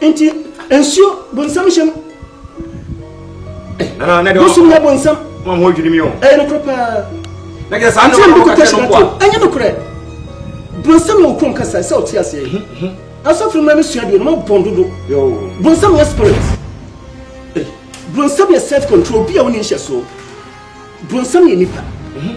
Nti nsuo bonsam hyɛ mu. Bosom yɛ bonsam. Mo a mo adwiri mi o. Ɛyɛ nokorɛ paa. Na kyerɛ saa nneɛma no kɔkyɛ no kwa. Ɛnyɛ nokorɛ. Bonsam yɛ okurom kasa sɛ ɔte aseɛ. Mhm, mhm. Asɔfo mmerɛ no sua deɛ no mabɔn dodo. Bonsam yɛ spirit. Eh, bonsam yɛ self control bi a wonni nhyɛsoɔ. Bonsam yɛ nipa. Mhm.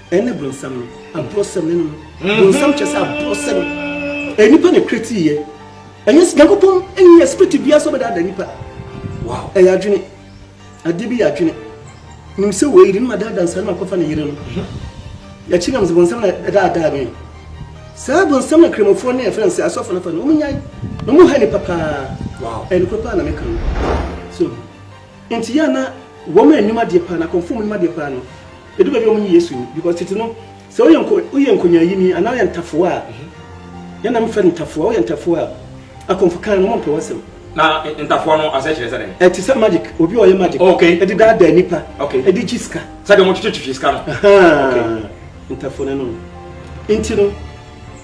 Ɛne bronsam no, abrosɛm ne no. Bronsam kyerɛ sɛ abrosɛm. Ɛyɛ nipa na kreti yɛ. Ɛnyɛ Nyankopɔn ɛnyɛ yɛ spirit biara sɛ ɔbɛdaadaa nipa. Wow. Ɛyɛ adwene. Adeɛ bi yɛ adwene. Nim sɛ wei de no ma daadaa nsa no akɔfa ne yere no. Yɛkyi nam sɛ bronsam na ɛdaadaa me. Saa bronsam na kramofoɔ ne ɛfrɛ sɛ asɔfo no fa no. Wɔn nyae. Na wɔn ha nipa paa. Wow. Ɛyɛ nokorɛ paa na meka no. So. Nti yɛ a na wɔn a ɛnim adeɛ paa no, akɔmfoɔ a wɔnim adeɛ paa no, ɛdu baabi a wɔnye Yesu nni. Because tete no, sɛ woyɛ nko, woyɛ nkonyaayini anaa woyɛ ntafowa a, yɛn na mefrɛ no ntafowa, woyɛ ntafowa a, akɔmfo kan no, wɔmpɛ w'asɛm. Na ntafowa no aseɛ kyerɛ sɛ dɛn? Ɛte sɛ magic, obi a ɔyɛ magic Okay. de daadaa nnipa Okay. de gye sika. Sɛdeɛ wɔtwetwetwe sika no. Ahaa, Okay. ntafowa no no. Nti no,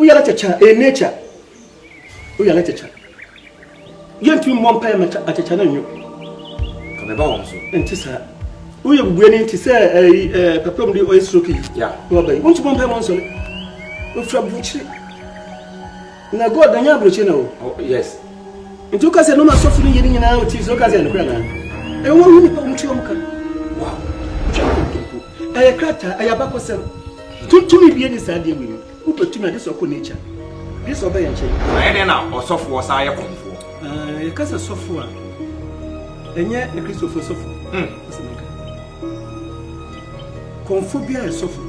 Wo yare kyakya ɛyɛ nature wo yare kyakya yɛntumi mmɔ mpa yɛ ma akyakya no nyo kabɛba wɔn so ɛnte saa wo yɛ bubue ne nti sɛ ɛyi ɛɛ papa mu de ɔyɛ stroke yi ya na ɔba yi wɔn ti bɔ mpa yɛ ma nsɔre ofura burukyiri na god na nyɛ aburukyiri na o oh, yes nti wo kasɛ noma sɔfo no yɛ ne nyinaa ɔti sɛ wo kasɛ ɛnokora naa ɛyɛ wɔn ho nipa wɔn ti wɔn ka wow ɛyɛ krataa ɛyɛ abakɔsɛm tuntun bi yɛ ne saa deɛ wɔ yi Wobɛtumi agye sɛ ɔkɔ nature. Gye sɛ ɔbɛyɛ nkyɛn. Na ɛyɛ dɛn na ɔsɔfoɔ san yɛ kɔmfoɔ? Ah, yɛka sɛ sɔfoɔ a, ɛnyɛ Akristofoɔ sɔfo. Mm. Kɔmfoɔ biara yɛ sɔfo.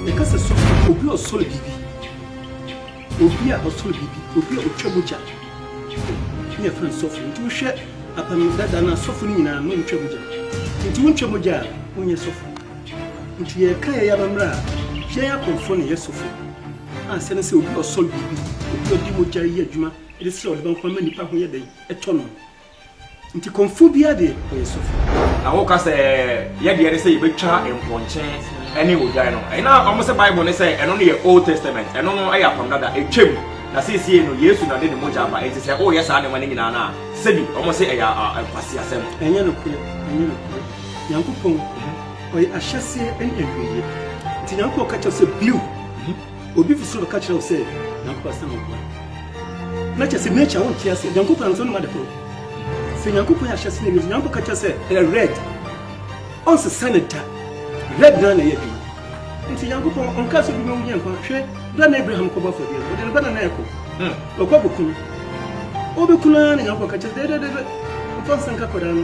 Yɛka sɛ sɔfo, obi a ɔsɔre biribi, obi a ɔsɔre biribi, obi a ɔtwa mogya ne yɛfrɛ no sɔfo. Nti wohwɛ apam dada no a, sɔfo no nyinaa no ntwa mogya. Nti wontwa mogya a, wonyɛ sɔfo. Enti yɛreka yɛn amammerɛ a, yɛn akorɔmfoɔ na ɛyɛ sɔfo. Ansa na sɛ obi a ɔsɔre biribi, obi a ɔde mogya reyɛ adwuma de srɛ ɔde bɛma kwan ma nnipa ho yɛ dɛn tɔ no. Enti korɔmfoɔ biara deɛ, ɔyɛ sɔfo. Na woka sɛ, Yɛn deɛ ne sɛ yɛbɛtwa mpɔnkye ne odwan no. Ɛna wɔn sɛ Bible ne sɛ ɛno no yɛ Old Testament, ɛno no yɛ Apam Dada, ɛtwam. Na seesei no, Yesu na ɔde ne mogya aba, enti sɛ woyɛ saa nneɛma no nyinaa no a, sɛbi wɔn se ɛyɛ nkwaseasɛm. Ɛnyɛ nokorɛ, ɛnyɛ nokorɛ. Nyankopɔn ɔyɛ ahyɛseɛ ne awieɛ nti Nyankopɔn ka kyerɛ wo sɛ bliw obi fi soro bɛka kyerɛ wo sɛ Nyankopɔn asɛm wɔ hɔ a na kyerɛ sɛ nature wonte aseɛ Nyankopɔn anasɛ wonim ade koro sɛ Nyankopɔn yɛ ahyɛseɛ ne awieɛ Nyankopɔn ka kyerɛ sɛ ɛyɛ red ɔnsesa ne da red na na ɛyɛ adwuma nti nyankopɔn ɔnka sɛ bi bɛwu nyɛ nkwa hwɛ berɛ na abraham kɔbɔ afɔdeɛ no ɔde ne ba na na ɛkɔ hmm. ɔkɔ bɛku no ɔbɛku no ara na nyankopɔn ka kyerɛ dɛdɛdɛdɛ mfa nsa nka kɔdaa no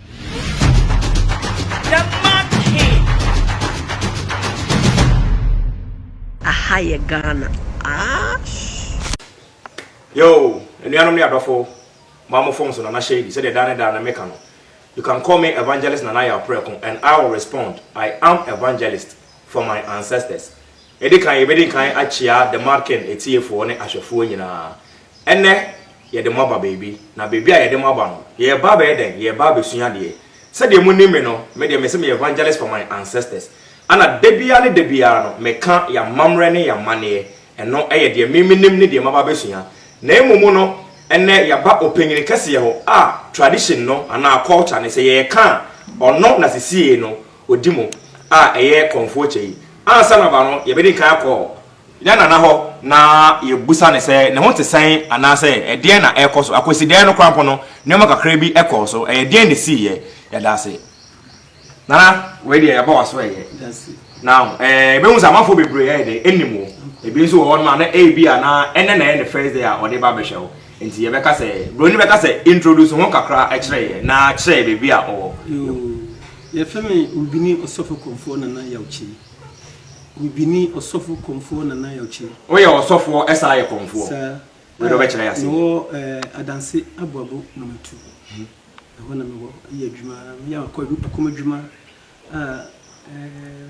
Aha yɛ Ghana aahh. Yoo anuanom ne adɔfo ma mo phone so Nana Shady sɛdeɛ daa ne daa no meka no you can call me Evangelist Nana Yaw Prɛko and I will respond I am evangelist for my ancestors Yɛde kan, yɛbɛdi nkan akyia The Marken atiefoɔ ne ahwɛfoɔ nyinaa. Ɛnnɛ, yɛde mo aba baabi, na baabi a yɛde mo aba no, yɛreba abɛyɛ dɛn? Yɛreba abɛsua adeɛ. Sɛdeɛ monim me no, me deɛ mese meyɛ evangelist for my ancestors. Ɛna da biara ne da biara no, meka yɛn amammerɛ ne yɛn amanneɛ. Ɛno yɛ deɛ me menim ne deɛ maba abɛsua. Na mmom no, ɛnnɛ yɛaba ɔpanyin kɛseɛ hɔ a tradition no anaa culture no, sɛ yɛreka a, ɔno na sesiei no odi mu a ɛyɛ Kɔmfoɔkyɛ yi. Ansa na ɔba no, yɛbɛdi kan akɔ yɛn nana hɔ na yɛabisa no sɛ ne ho te sɛn anaasɛ ɛdeɛn na ɛrekɔ so. Akwasidaeɛ no koraa mpo no, nneɛma kakra bi kɔɔ so. Ɛyɛ deɛn na ɛsiiɛ? Yɛda ase. Nana, wei deɛ yɛaba w'aso ɛyɛ. Na eh, yɛbɛhu sɛ amanfoɔ bebree ɛyɛ dɛ, ɛnim wo. Ebi nso wɔ hɔ nom a na ɛyɛ bi a na ɛnɛ na ɛyɛ ne first day a ɔde ba bɛhwɛ wo. Nti yɛbɛka sɛ, buroni bɛka sɛ introduce ho kakra kyerɛ yɛn na kyerɛ yɛn baabi a ɔwɔ. Yɛfrɛ me Owibini Ɔsɔfo Kɔmfoɔ Nana Yaw Kyei. Owibini Ɔsɔfo Kɔmfoɔ Nana Yaw Kyei. Woyɛ ɔsɔfoɔ ɛsan yɛ kɔmfoɔ? Saa. Wei na wobɛkyerɛ yɛ ase nnɛ. Mewɔ Adanse Aboabo Number Two. Ɛhɔ na mewɔ yɛ adwuma. Meyɛ akɔm adwuma a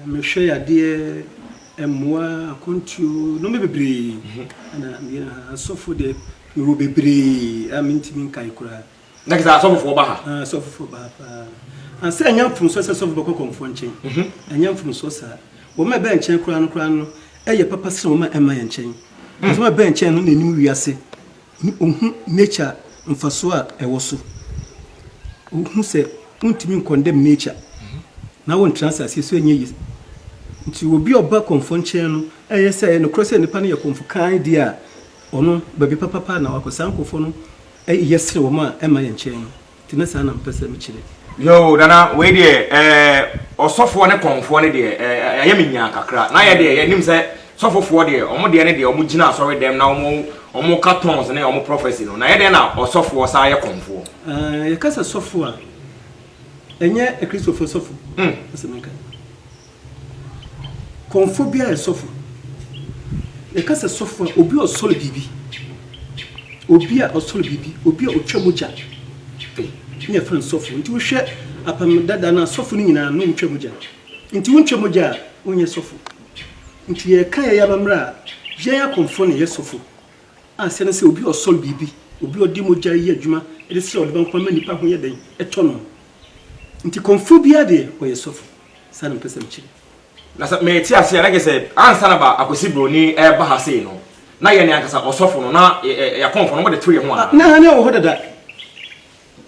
mehwɛ yadeɛ, mmoa, akwantuo, nnoɔma bebree na meyɛ. Asɔfo deɛ mewɔ bebree a mentumi nkae koraa. na kisa asɔfofoɔ ba ha. Ah, asɔfofoɔ ba ha paa. Ansa ɛnyɛ mfomsoɔ sɛ sɔfo bɛkɔ kɔmfoɔ nkyɛn. Mhm. Ɛnyɛ mfomsoɔ saa. Wɔn a ɛbɛn nkyɛn koraa no koraa no ɛyɛ papa sɛ wɔn a ɛma yɛn nkyɛn. Wɔn mm. a ɛbɛn nkyɛn no na ɛnim wiase. Ɔhu nature mfasoɔ a ɛwɔ so. Ɔhu sɛ wontumi nkɔndɛm nature mhm. na wontra asase so ɛnyɛ yi. Nti obi ɔba kɔmfoɔ nkyɛn no ɛyɛ sɛ ɛyɛ nokorɛ sɛ nipa no yɛ kɔmfo kan deɛ a ɔno baabi papapa na wakɔ saa nkɔfoɔ no Yɛsrɛ wɔn a ɛmma yɛn nkyɛn no. Nti na saa na mepɛ sɛ mekyerɛ. Yoo Nana wei deɛ ɛɛ ɔsɔfoɔ ne kɔnfoɔ no deɛ ɛɛ ayɛ me nyaa kakra na yɛ deɛ yɛ nim sɛ sɔfofoɔ deɛ wɔn deɛ ne deɛ wɔn gyina asɔre dɛm na wɔn wɔn ka tons ne wɔn prɔfɛsi no na yɛ deɛ na ɔsɔfoɔ saa yɛ kɔnfoɔ. Ɛɛ yɛ ka sɛ sɔfoɔ a ɛnyɛ akristofoɔ sɔfo na sɛ me nka. Kɔmfo biara yɛ sɔfo. Yɛka sɛ sɔfo a, obi a ɔsɔre biribi, obi a ɔsɔre biribi, obi a ɔtwa mogya to na yɛfrɛ no sɔfo. Nti wohwɛ Apam Dada no a, sɔfo no nyinaa no wotwa mogya. Nti wontwa mogya a, wonyɛ sɔfo. Nti yɛka yɛn amammerɛ a, yɛn akɔmfo na yɛyɛ sɔfo. Ase ne sɛ obi a ɔsɔre biribi, obi a ɔde mogya yɛ adwuma de srɛ ɔdebɔ nkwa ma nnipa ho yɛ dɛn, ɛtɔ no. Nti kɔmfo biara deɛ, ɔyɛ sɔfo. Saa na ɔpɛ sɛ mekyerɛ. Na sɛ merete ase a, na kyerɛ sɛ ansa na ba Akwasi Broni reba ha sei no, na yɛn ankasa ɔsɔfo no, na yɛn akɔmfo no, wɔde tew yɛn ho anaa? Na na ɛwɔ hɔ dada.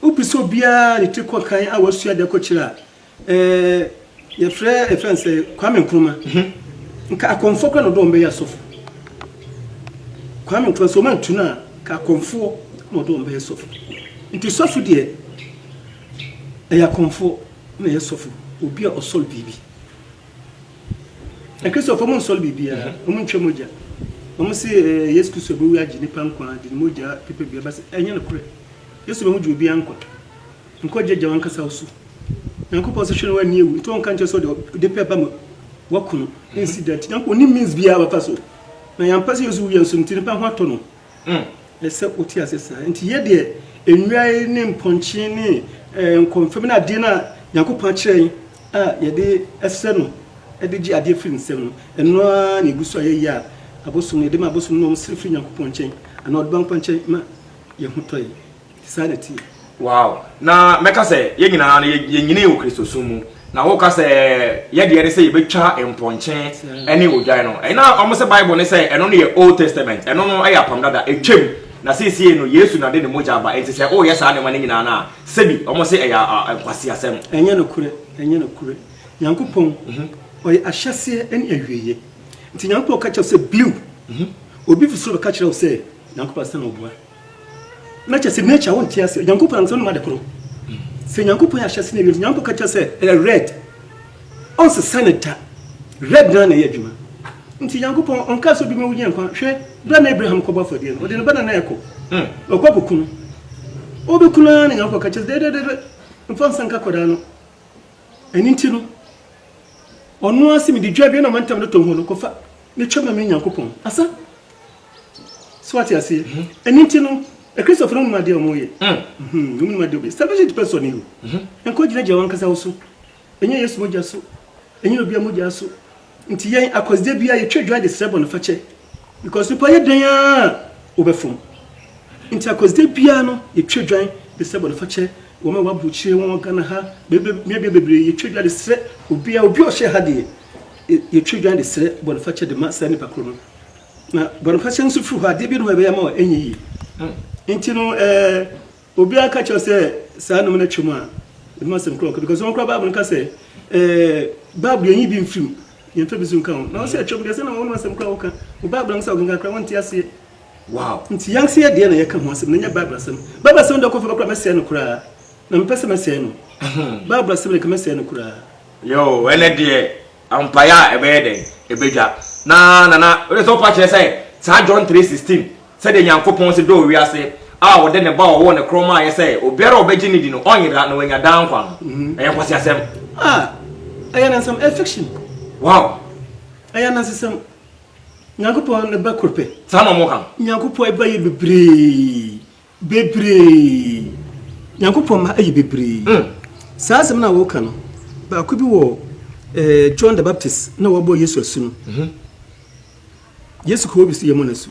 Wopɛ sɛ obiara de ti kɔ kan a wasua ade akɔkyerɛ a, ɛɛ, yɛfrɛ, yɛfrɛ no sɛ Kwame Nkrumah. Nka akɔmfoɔ koraa na ɔde wɔn bɛyɛ asɔfo. Kwame Nkrumah, sɛ wɔantu no a, nka akɔmfoɔ na ɔde wɔn bɛyɛ sɔfo. Nti sɔfo deɛ, ɛyɛ akɔmfoɔ. na yɛ sɔfo obi a ɔsɔre biribi. Akristo fo mo nsɔre biribi a, ɔmo ntwa mogya. Ɔmo se Yesu Kristo a ɔbɛwu agye nnipa nkwa de ne mogya pepa biribi aba se, ɛnyɛ nokorɛ. Yesu bɛho gye obiara nkwa. Nkwa gye agya wankasa wo so. Nyankopɔn se hwɛ na wanni awu, nti ɔnka nkyerɛ sɛ ɔde ɔde pɛ ba ma wakunu. Ɛnsi da nti Nyankopɔn ɔnni means biara a ɔbɛfa so. Na yɛampɛ sɛ Yesu wu yɛn so nti nnipa ho atɔ no. ho. Ɛsɛ sɛ wote ase saa. Enti yɛ deɛ nnua yi ne mpɔnkye ne nkɔmfam ne adeɛ no a Nyankopɔn akyerɛ yɛn a yɛde srɛ no de gye adeɛ firi ne nsam no, ɛno ara na ɛgu so a yɛyɛ a abosom no, yɛde ma abosom no ma wɔsrɛ firi Nyankopɔn nkyɛn anaa ɔde ba nkwa nkyɛn ma yɛn ho tɔ yɛn. Saa na ɛteɛ. Wow! Na mɛka sɛ yɛn nyinaa no, yɛnyinii wɔ Kristosom mu. Na woka sɛ yɛn deɛ ne sɛ yɛbɛtwa mpɔnkye ne odwan no. Ɛna wɔn sɛ Bible ne sɛ ɛno no yɛ Old Testament. Ɛno no yɛ apam dada, ɛtwam. Na seesei no, Yesu na ɔde ne mogya aba. Enti sɛ woreyɛ saa nneɛma no nyinaa no a, sɛbi wɔn se ɛyɛ nkwaseasɛm. Ɛnyɛ nokorɛ, ɛnyɛ nokorɛ. Nyankopɔn, ɔyɛ ahyɛseɛ ne awieɛ. Nti Nyankopɔn ka kyerɛ wo sɛ, Blue, obi fi soro bɛka kyerɛ wo sɛ, Nyankopɔn asesa na ɔboa. na kyɛ sɛ nature wo nte aseɛ nyankopɔn ankasa wonim ade koro sɛ nyankopɔn yɛ ahyɛse na awiam nyankopɔn ka kyerɛ sɛ ɛyɛ red ɔnsesa ne da red na na ɛyɛ adwuma nti nyankopɔn ɔnka sɛ obi ma wonya nkwa hwɛ berɛ na abraham kɔbɔ afɔdeɛ no ɔde ne ba na na ɛkɔ hmm. ɔkɔ kɔku no wobɛku no ara na nyankopɔn ka kyerɛ sɛ dɛdɛdɛdɛ mfa nsa nka kɔdaa no ɛno nti no ɔno ase mede dwa bia na ɔmantam no tɔ ho no kɔfa ne twɛ ma me nyankopɔn asa So wate aseɛ? Ɛno nti no, Akristofo no wonim adeɛ a wɔyɛ. Wonim adeɛ wɔyɛ. Salvation depends on you. Nkɔ gyinagyina wankasa wo so. Ɛnyɛ Yesu mogya so. Ɛnyɛ obia mogya so. Nti yɛn akɔsdeɛ biara yɛtwa dwa de srɛ bɔnefakyɛ. Because nipa yɛ dɛn a wobɛfom. Nti akɔsdeɛ biara no yɛtwa dwa de srɛ bɔnefakyɛ. Wɔn a wɔaburukyire wɔn wɔ Ghana ha, mmeabea bebree yɛtwa dwa de srɛ obia, obi a ɔhyɛ ha deɛ yɛtwa dwa de srɛ bɔnefakyɛ de ma saa nipa koro no. Na bɔnfakyɛ nso firi hɔ, adeɛ bi no hɔ ɛbɛyɛ ama ɛnyɛ yie. Nti no ɛɛ obiara ka kyerɛ sɛ saa nom no twam a, ɛho asɛm korɔ ɔka because wɔn koraa Bible no ka sɛ ɛɛ Bible yɛnyi bi mfirim, yɛmfa bi so nka ho. Na wɔn sɛ ɛtwam deɛ sɛ na wɔn asɛm koraa wɔka, wo Bible no sɛ ɔkenkan koraa wɔnte aseɛ. Wow. Nti yɛn nso yɛ deɛ na yɛka ho asɛm na nyɛ Bible asɛm. Bible asɛm deɛ ɔkɔfa bɛkora mɛsɛe no koraa. Na mepɛ sɛ mɛsɛe no. Bible asɛm deɛ ka mɛsɛe no koraa. Yoo, ɛnɛ deɛ Mpaeɛ a ɛbɛyɛ dɛn? Ɛbɛdwa. Na Nana, wode sɛ wofa kyerɛ sɛ saa John 3, 16, sɛdeɛ Nyankopɔn se dɔɔ wiase a ɔde ne Ba a ɔwoo no korɔ maaeɛ sɛ obiara a ɔbɛgye no di no ɔnyera na wanya daa nkwa no, ɛyɛ nkwaseasɛm? Ah! Ɛyɛ anansesɛm, ɛyɛ fiction. Wow! Ɛyɛ anansesɛm. Nyankopɔn ne Ba koro pɛ. Saa na wɔka. Nyankopɔn Ba yɛ bebree. Bebree. Nyankopɔn mma yɛ bebree. Mm. Saa asɛm no a woka no, baako bi wɔ eh, John the Baptist na wɔbɔ Yesu asu no. Mm -hmm. Yesu kɔ obi so yɛ mo no asu.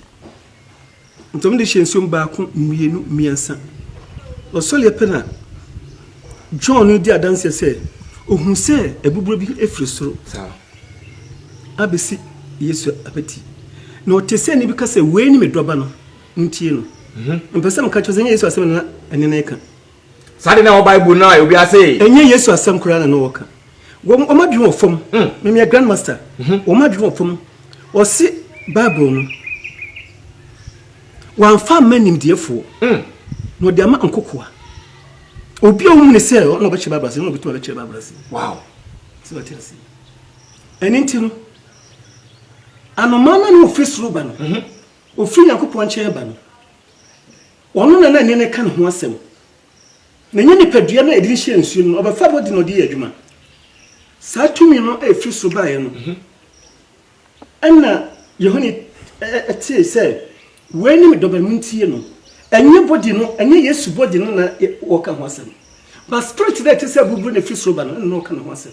Ntɔm de hyɛ nsuom baako, mmienu, mmiɛnsa. Ɔsɔreɛ pɛ na John no di adanseɛ sɛ ohun sɛ abuburo bi efiri soro. Saa. Abesi Yesu abati. Na ɔte sɛ ne bi ka sɛ wei ne me dɔba no. Montie no. Mepɛ sɛ meka kyerɛ sɛ ɛnyɛ Yesu asɛm na ɛne no reka. Saa de na ɛwɔ Bible no a obi ase. Ɛnyɛ Yesu asɛm koraa na na wɔka. Wɔn wɔn adwene wɔ fam. Me meyɛ grandmaster. Wɔn adwene wɔ fam. Wɔse Bible no wɔamfa amma nimdeɛfoɔ na wɔde ama nkokoa. Obi a wɔhu ne sɛ ɔna ɔbɛkyerɛ Bible ase na ɔbɛtumi abɛkyerɛ Bible ase. Wow. Sɛ wɔte ase. Ɛne nti no anomaa no a na ɔfiri soro ba no. Ofiri Nyankopɔn nkyɛn aba no, ɔno na na nneɛma reka ne ho asɛm. Na ɛnyɛ nipadua no a yɛde rehyia nsuo no na ɔbɛfa bɔ de na ɔde yɛ adwuma. Saa tumi no a ɛfiri soro baeɛ no, ɛnna Yohane tee sɛ, Wei ne me dɔba, montie no. Ɛnyɛ body no, ɛnyɛ Yesu body no na ɔreka ho asɛm, but spirit no a ɛte sɛ aburuburuw no a ɛfiri soro ba no, ɛnna na ɔreka ne ho asɛm.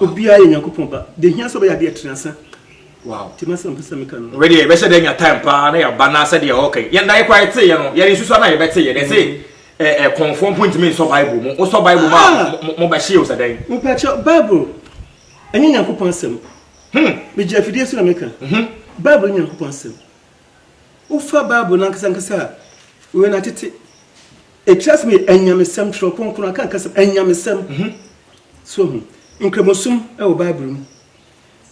Obiara yɛ Nyankopɔn ba. Deɛ ɛhia sɛ ɔbɛyɛ adeɛ ɛtene asa. Wow. Nti m'asɛm mpɛ sɛ meka no. Wɛdeɛ yɛbɛhyɛ da nya time paa na yɛaba na sɛdeɛ ɔka yi. Yɛn da yɛ kɔ a yɛte yɛ no, yɛnsusu a na yɛbɛte yɛ. Dɛ se eh kɔnfoɔ mpo ntumi nsɔ Bible mu. Wosɔ Bible mu a mo bɛhye o sɛ dɛn. Mpakyɛw, Bible ɛnyɛ Nyankopɔn asɛm. Hmm. Megyina afidie so na meka. Bible nyɛ Nyankopɔn asɛm. Wofa Bible no ankasa ankasa a, wei na tete ɛtiri asɛm yɛ anyamesɛm, twerɛ kronkron aka nka sɛm, anyamesɛm. Mhm. So ho, nkramosom wɔ Bible mu,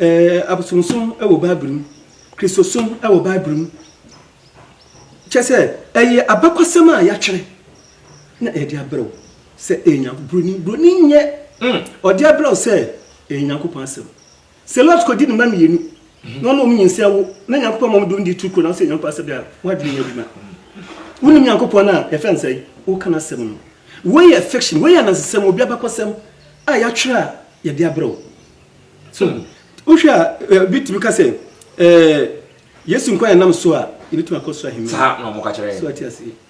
ɛɛ abosomsom wɔ Bible mu, Kristosom wɔ Bible mu. Kyɛ sɛ ɛyɛ abakɔsɛm a yɛatwerɛ na yɛde abrɛ wo sɛ ɛyɛ Nyankopɔn. Buroni, buroni nyɛ, mm. ɔde abrɛ wo sɛ ɛyɛ Nyankopɔn asɛm. Sɛ Lot kɔgye ne mma mmienu na ɔne wɔn nyinsɛn wo na Nyankopɔn ma wɔn de wɔn di turu kuro na wosɛ Nyankopɔn asɛm deɛ a, w'adwene nyɛ adwuma. Wonim Nyankopɔn no a, yɛfrɛ no sɛn? Woka n'asɛm no. Wei yɛ fiction, wei yɛ anansesɛm, obi abakɔsɛm a yɛatwerɛ a yɛde abrɛ wo. So, wohwɛ a, eh, bi tumi ka sɛ, eh, Yesu nkwa yɛnam so a, yɛbɛtumi akɔ soro ahemman. Saa na wɔka kyerɛ yɛn. So ate aseɛ.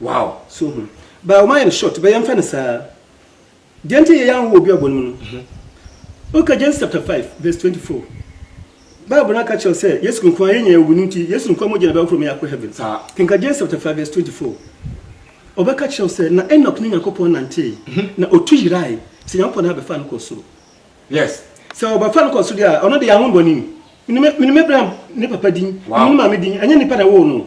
Wow! So hu. But wɔayɛ no short, but yɛmfa no saa. Deɛ nti yɛ yɛn ahoɔ wɔ obi abuo no mu no, woka James chapter 5 verse 24, Bible no aka kyerɛ wo sɛ Yesu nko ara, yɛn nyinaa yɛwu no nti, Yesu nko ara mogya na ɛbɛhohoro ma yɛakɔ heaven. Saa. Kenka James chapter 5 verse 24. Ɔbɛka kyerɛ wo sɛ, na Enoch ne Nyankopɔn nantee, na ɔtu yerae, sɛ Nyankopɔn na bɛfaa no kɔɔ soro. Yes. Sɛ wɔbɛfa no kɔ soro deɛ a, ɔno deɛ, ahonbɔne. Menim, menim Abraham ne papa din, menim Wow! ne maame din, ɛnyɛ nnipa na ɛwoo no o.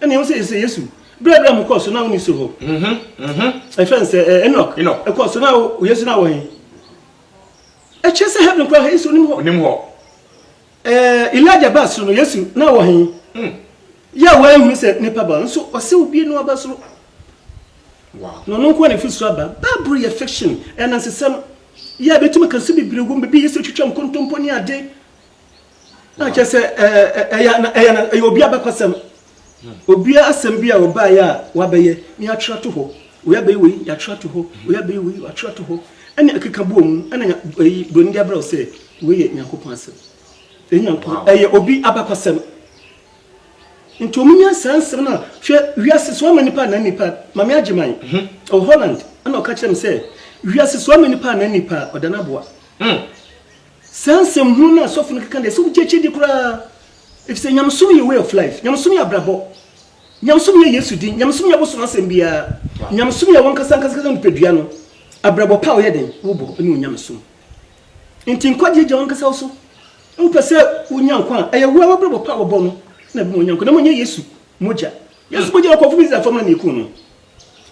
Ɛnna ɛwɔ sɛ yɛsɛ Yesu. Berɛ a Abraham kɔɔ so na ɔnni so hɔ. Ɛfɛ nsɛ Enoch ɛkɔɔ so na Yesu na wɔ he? Ɛkyerɛ sɛ heaven koraa Yesu onim hɔ. Onim hɔ. Elijah baa soro no Yesu na wɔ he? Yɛ a wɔanhunu sɛ nipa ba nso ɔsɛ obie no aba soro. Na ɔno nko na efi soro aba. Bible yɛ fiction, ɛyɛ anansesɛm. Yɛ a bɛtumi ka nso bebree wom, baabi a Yesu twitwa nkontompo ne ade. na kyɛ sɛ ɛyɛ obi abakɔsɛm obiara asɛm bi a ɔbaeɛ a wabɛyɛ ne yɛatwerɛ to hɔ wei abɛyɛ wei yɛatwerɛ to hɔ wei abɛyɛ wei yɛatwerɛ to hɔ ɛne ɛkeka boɔ mu ɛna ɛyi buroni de abrɛ wo sɛ wei yɛ nyankopɔn asɛm ɛnyankopɔn ɛyɛ obi abakɔsɛm nti ɔmo nya saa nsɛm no a hwɛ wiase so ama nipa na nipa mame agye man mhm. ɔ holland ɛna ɔka kyerɛ m sɛ wiase so ama nipa na nipa ɔda no aboa hmm. Saa nsɛm hunu no a sɔfo no keka no, ɛsɛ sɛ wogye akyi di koraa, efisɛ nyamesom yɛ way of life, nyamesom yɛ abrabɔ, nyamesom yɛ Yesu din, nyamesom nyɛ bosom asɛm biara, nyamesom yɛ w'ankasaankasa nipadua no, abrabɔ pa a woyɛ dɛn wobɔ ne wo nyamesom. Enti nkwagyeɛ gya w'ankasa wo so, wopɛ sɛ wonya nkwa a, ɛyɛ woa w'abrabɔ pa a wɔbɔ no na ɛbɛma wonya nkwa, na mmom ɛnyɛ Yesu mogya. Yesu mogya a ɔkɔforo Israelfoɔ mma na ɛkuu no.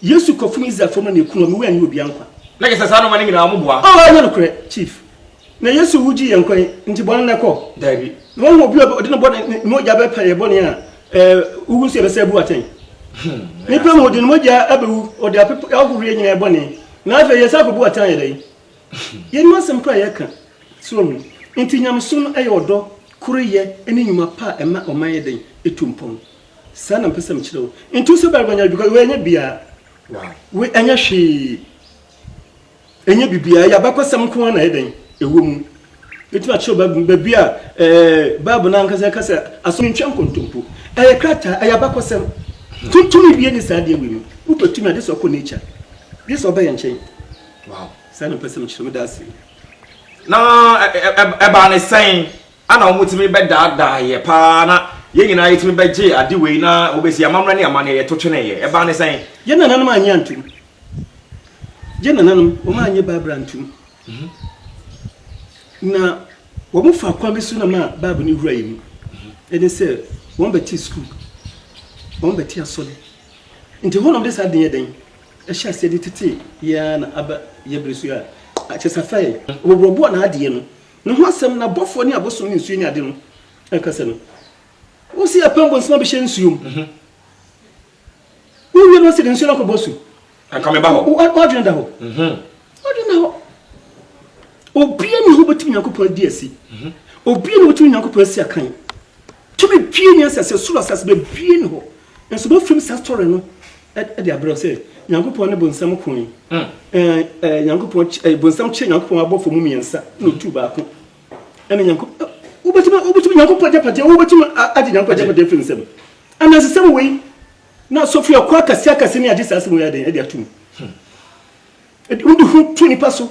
Yesu kɔ funu Israelfoɔ mu na ne kunu hɔ, me wura nni obia nkwa. Na kyɛ sɛ saa nnoɔma no nyinaa wɔn boa. Oh ɛnyɛ nokorɛ chief. Na Yesu wu gyee yɛn nkwa yi nti bɔne na ɛkɔ? Daabi. Na wɔahu obi a ɔde ne bɔne ne mogya bɛpa yɛn bɔne a eh wowu nso yɛbɛsan abu atɛn. Nipa mu ɔde ne mogya abɛwu ɔde apepa ahohoro yɛn nyinaa yɛn bɔne na afei yɛsan akɔbu atɛn ayɛ dɛn? Yɛnnim asɛm korɔ a yɛreka. So wahu? Nti nyamesom no ɛyɛ ɔdɔ, koreyɛ ne nnwuma pa a ɛma ɔman yɛ dɛn? Ɛtu mpɔn. Saa na mpɛ sɛ mekyerɛ wo. Ntu sɛ barima nya because wei ɛnyɛ bia. Wei ɛnyɛ hwee. Ɛnyɛ bibia. Ɛyɛ abakɔsɛm nko ara na ɛyɛ dɛn ɛwɔ mu. Ɛtumi akyerɛ baabi baabi a ɛɛ Bible no ankasa ɛka sɛ aso no ntwa nkontompo. Ɛyɛ krataa, ɛyɛ abakɔsɛm. Tu tumi bia ni saa adeɛ wei mu. Wopɛ tumi a gye sɛ ɔkɔ nature. Gye sɛ ɔba yɛn nkyɛn. Saa na mpɛ sɛ mekyerɛ wo. Meda ase. Na ɛbaa ne sɛn? Ana wɔtumi bɛdaadaa yɛ paa na yɛn nyinaa yɛtumi bɛgyee ade wei na wɔbɛsi amammerɛ ne amanneɛ yɛto tweneeɛ? Ɛbaa ne sɛn? Yɛn nananom annye antom. Yɛn nananom, wɔannye Bible antom. Na wɔfaa kwan bi so na maa Bible no wuraa yɛn mu. Ɛne sɛ, wɔbɛtee sukuu, wɔbɛtee asɔre. Nti hɔ na wɔde saa ade no yɛɛ dɛn? Ɛhyɛɛ aseɛ de tetee yɛn ara na aba yɛn berɛ so yi a, kyerɛ sɛ afra yɛn. Wɔboaboaa n'adeɛ no Ne ho asɛm na bɔfoɔ ne abosom ne nsuo ne ade no ɛkasa no. Wo se apam bonsam abɛhyɛ nsuo mu. Mhm. Wo wie no ɔse de nsuo no akɔbɔ su. Anka meba hɔ. Wo adwene da hɔ. Mhm. Wo adwene da hɔ. Obia ni hɔ bɛtumi Nyankopɔn adi asi. Mhm. Obia ni bɛtumi Nyankopɔn asi akan. Tumi bie ni asase, soro asase bɛbie ni hɔ. Nso bɛfiri mu saa story no. de abrɛ wo sɛ Nyankopɔn ne bonsam ko yi, ɛɛ Nyankopɔn ɛɛ bonsam kyerɛ Nyankopɔn abɔfo mu mmiɛnsa na otu baako ɛne Nyankopɔn wobɛtumi wobɛtumi Nyankopɔn agyapadeɛ wobɛtumi agye Nyankopɔn agyapadeɛ firi ne nsam anansesɛm wei na sɔfiri akɔ akɛse akɛse ne agye saa asɛm wei aden ɛde atum ɛde ho to nipa so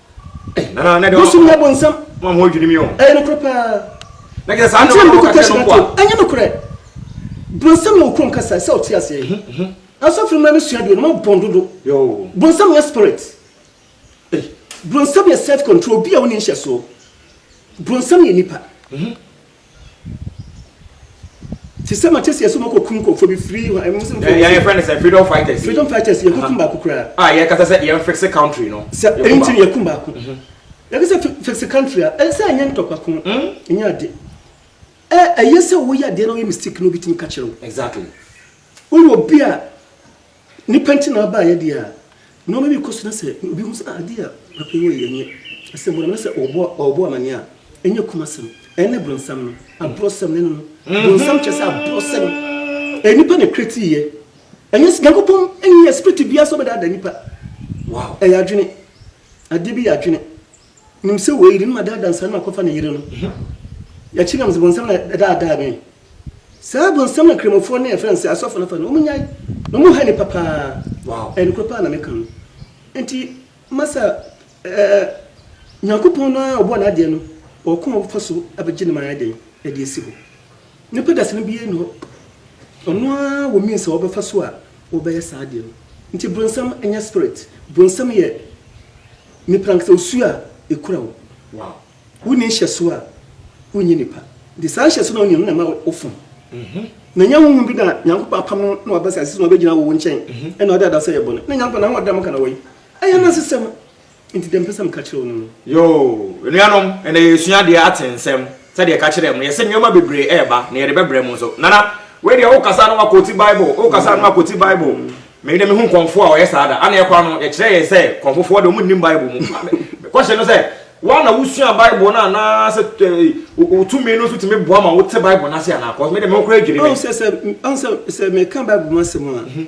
Bosom yɛ bonsam. Ɛyɛ nokorɛ paa. Akyerɛ mede kɔtɔ hyira to. Ɛnyɛ nokorɛ. Bonsam yɛ okrom kasa ɛsɛ ɔte aseɛ. Asɔfo no mmra me sua deɛ no mo bɔn dodo. Bonsam nyɛ spirit. Bonsam yɛ self control obi a ɔnni nhyɛsoɔ. Bonsam yɛ nipa. Te sɛ ma kyɛseɛ so ma kɔ kum nkɔfoɔ bi free hɔ ɛmu sɛ mfɔ yɛ friend sɛ freedom fighters freedom fighters yɛ kɔ kum baako koraa a yɛ kasa sɛ yɛn fixe country no sɛ ɛyi ti yɛ kum baako yɛ kasa sɛ fixe country a ɛsɛ ɛnyɛ ntɔkwa ko ɛnyɛ ade ɛ ɛyɛ sɛ wo yɛ adeɛ na wo yɛ mistake na obi tumi ka kyerɛ wo exactly wo yɛ obi a Nnipa nti na ɔbaeɛ deɛ a, nnoɔma bi kɔ so na sɛ obi hu sɛ, ah adeɛ a papa yi wɔeɛ nyɛ asɛm bɔne na sɛ ɔrebɔ ɔrebɔ amaneɛ a, ɛnyɛ kum asɛm. Ɛne bronsam no, aborɔsɛm no, ɛne no. Bronsam kyerɛ sɛ aborɔsɛm. Ɛyɛ nnipa na ɛkretiiɛ. Ɛnyɛ sɛ Nyankopɔn nnyɛ spirit biara sɛ ɔbɛdaadaa nnipa. Wow, ɛyɛ adwene. Adeɛ bi yɛ adwene. Nim sɛ wei de ne ma daa dansera no akɔfa ne yere no. Yɛakyi nam sɛ bonsam na ɛdaadaa me. Saa bonsam na Kramofoɔ ne yɛfrɛ no sɛ asɔfo no fa no. Wɔn nyae na wɔn ha nnipa paa. Ɛyɛ nokorɛ paa na meka no. Nti masa ɛɛ Nyankopɔn no ara ɔbɔɔ n'adeɛ no ɔwɔ kwan a ɔbɛfa so abɛgye no ma ayɛ dɛn de asi hɔ. Nnipa dasani biara nni hɔ, ɔno ara wɔ means a ɔbɛfa so a ɔbɛyɛ saa adeɛ no. Nti bronsam nyɛ spirit, bronsam yɛ nipa ankasa, osuo a ɛkura wo. Wonni nhyɛsoɔ a, wonyɛ nipa. Nti saa nhyɛsoɔ no a wonni no na ɛma wofom. Na ɛnyɛ honhom bi na Nyankopɔn apam no na waba asase so na ɔbɛgyina wo nkyɛn na ɔde ada sɛ ɛyɛ bɔne. Na Nyankopɔn, n'ahoɔden a moka na wɔyi. Ɛyɛ anansesɛm. Nti dɛn pɛ sɛ meka kyerɛ wo no no? Yoo, anuanom, ɛnnɛ yɛresua deɛ ate nsɛm, sɛdeɛ ɛka kyerɛɛ mo, yɛse nneɛma bebree ɛreba, na yɛde bɛbrɛ mo nso. Nana, wei deɛ wokasa na woakoti Bible, wokasa na woakoti Bible. Me deɛ mehu kɔmfoɔ a ɔyɛ saa da. Aneɛ kwa no, yɛkyerɛɛ yɛn sɛ kɔmfofoɔ deɛ wɔnnim Bible mu. Me question no sɛ, wo ara na wosua Bible no anaa sɛ wo tumi no nso tumi boa ma wote Bible no ase anaa? Cos me deɛ me ho koraa dwiri me. Ahu sɛ, sɛ, ahu sɛ, sɛ meka Bible mu asɛm a,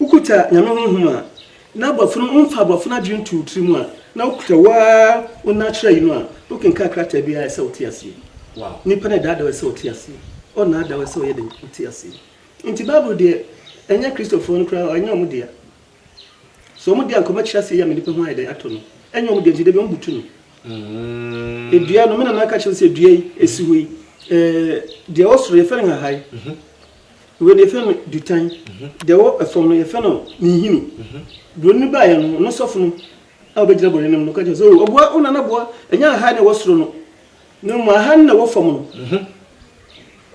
Wokuta Nyame honhom a, na bɔfo no mfa bɔfo no adwene nto wo tiri mu a, na wokuta wo ara wo nna kyerɛ yi no a, wokenkan krataa biara a ɛsɛ sɛ wote aseɛ. Nnipa no adaadaa wo ɛsɛ sɛ wote aseɛ, wɔnnaadaa wo ɛsɛ sɛ woyɛ dɛn? Wote aseɛ. Enti Bible deɛ ɛnyɛ Kristofoɔ no koraa, ɛnyɛ wɔn dea. So wɔn dea nka wɔakyerɛ aseɛ yi ama nnipa ho ayɛ dɛn? Atɔ no. Ɛnyɛ wɔn dea nti da biara wɔbutu no. Dua no, me nana ka kyerɛ me sɛ dua yi, ɛsi hɔ yi, ɛɛ, deɛ ɛwɔ soro yɛfrɛ no nhahae. Wei deɛ yɛfrɛ no dutan. Deɛ ɛwɔ ɛfam no yɛfrɛ no ninhini. Buroni no baeɛ no, ɔno sɔfo no a ɔbɛgyina buroni no anim no ka kyerɛɛ no sɛ, O ɔboa, wo nana boa, ɛnyɛ aha na ɛwɔ soro no, na mmom aha no na ɛwɔ fam no,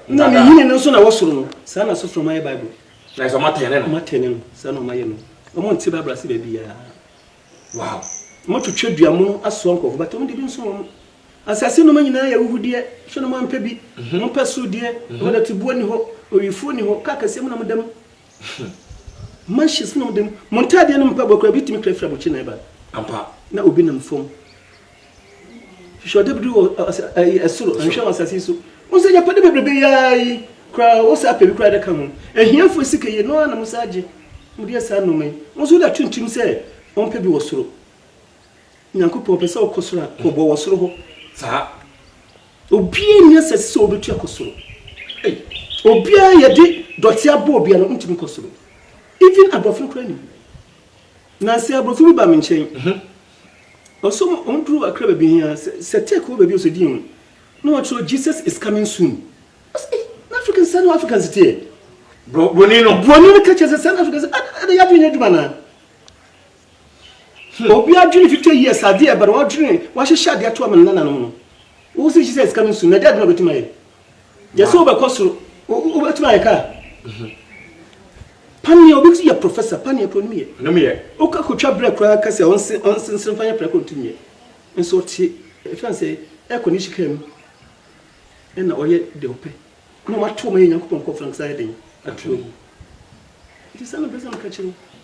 na ninhini no nso na ɛwɔ soro no. Saa na asɔfo no wɔayɛ Bible. Wɔatɛne no. Saa na wɔayɛ no. Wɔnte Bible ase baabiara. Wow ɔmo atwitwa dua mono asoa nkorɔfo but ɔmo de bi nso wɔn asase nnoma nyinaa yɛ awuhudeɛ hwɛ no moampɛ bi mompɛ soro deɛ ɛhɔ dɔtebuo ni hɔ owifuo ni hɔ car kɛseɛ mu na moda mu mansions mu na moda mu mo ntaadeɛ no mpaboa koraa bi tumi kra firi abɔkye nan ba ampa na obi nam fam Hwehwɛ ɔdɛ biri wɔ ɔsɛ ɛyi ɛsoro, nhwɛ wɔ asase so. Wɔn sɛ yapade bebrebe yaa yi koraa wɔn sɛ apɛ bi koraa de ka ho. Ahiafo sika yi no ara na wɔn sɛ agye. Wɔn de yɛ saa nneɛma yi. Wɔn nso da tuntum sɛ wɔn pɛ bi wɔ soro. Nyankopɔn ɔpɛ sɛ ɔkɔ soro a, ɔbɔ wɔ soro hɔ saa. Obiara nni asase sɛ ɔbɛtu akɔ soro. Ei, obiara yɛde dɔte abɔ obiara no ntumi nkɔ soro. Even aborɔfo no koraa nim. Nansa yi aborɔfo bi baa me nkyɛn. Ɔsɔ mu ɔn duru akra baabi hia sɛ sɛ tech wɔ baabi ɔsɛ din ho na wɔn kyerɛ Jesus is coming soon ɔsɛ ei na Africans sɛ na wɔ Africans teɛ broni no broni no kɛkyɛ sɛ sɛ na Africans ɛdɛ yɛ adwene nyɛ adwuma na hmm. obi adwene 50 years adeɛ ɛbɛrɛ wɔn adwene wɔahyehyɛ adeɛ ato ama nana no ho no wɔ sɛ Jesus is coming soon na ɛdɛ adwene ɔbɛtuma yɛ Gyɛ sɛ wobɛkɔ soro. Wobɛtumi ayɛ kaa. Mhm. Paneɛ, obi ti yɛ professor, paneɛ kura nim yɛ. Nim yɛ. Woka kotwa brɛ koraa ka sɛ ɔnse ɔnsensere fa yɛ prɛko ntumi yɛ. Nso ɔte ɛfɛn sɛ air condition kaa mu ɛna ɔyɛ deɛ ɔpɛ. Na wɔato ma yɛ Nyankopɔn nkɔfra nkasa yɛ den ato agu. Nti sɛ na mpɛ sɛ meka kyerɛ wo.